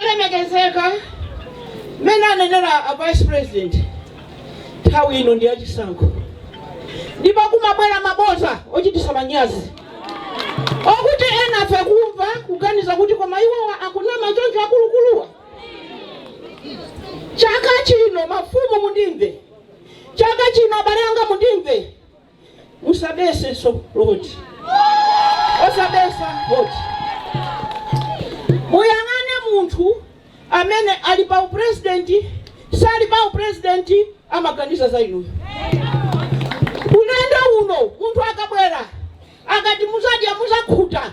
olemekezeka mmene anenera a vice president nthawi ino ndi yachisankho ndipo kumabwera maboza ochititsa manyazi okuti enafe kumva kuganiza kuti koma iwowa akunama choncho akulukuluwa chaka chino mafumu mundimve chaka chino abale anga mundimve Musabetsenso voti. Osabetsa voti. Muyang'ane munthu amene ali pa upresident sali pa upresident amaganiza za inuyo. Ulendo uno munthu akabwera akati muzadya muzakhuta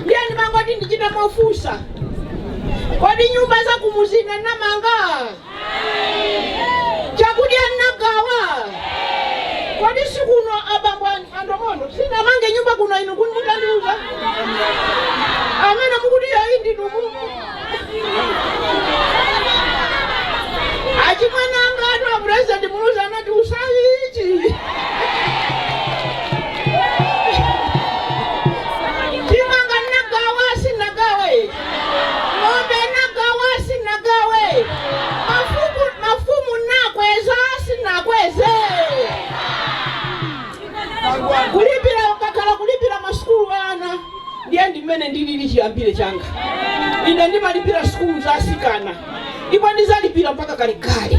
ndiye ndimangoti ndichita mofunsa kodi nyumba za kumuzi sindinamange chakudya ndinagawa kodi sikuno abambo an- andomondo sinamange nyumba kuno inu kuti mutandiuza amene mukuti yoyi ndinu mumu Achimwene angatu a President Muluzi anati usayi ichi. Chimanga nagawa sinagawe. Ng'ombe nagawa sinagawe. Mafumu nakweza sinakweze. Kulipira ukakhala kulipira masukulu ana. Ndiye ndi mmene ndilili chiyambire changa. Ine ndimalipira sukulu za atsikana ndipo ndidzalipira mpaka kalekale.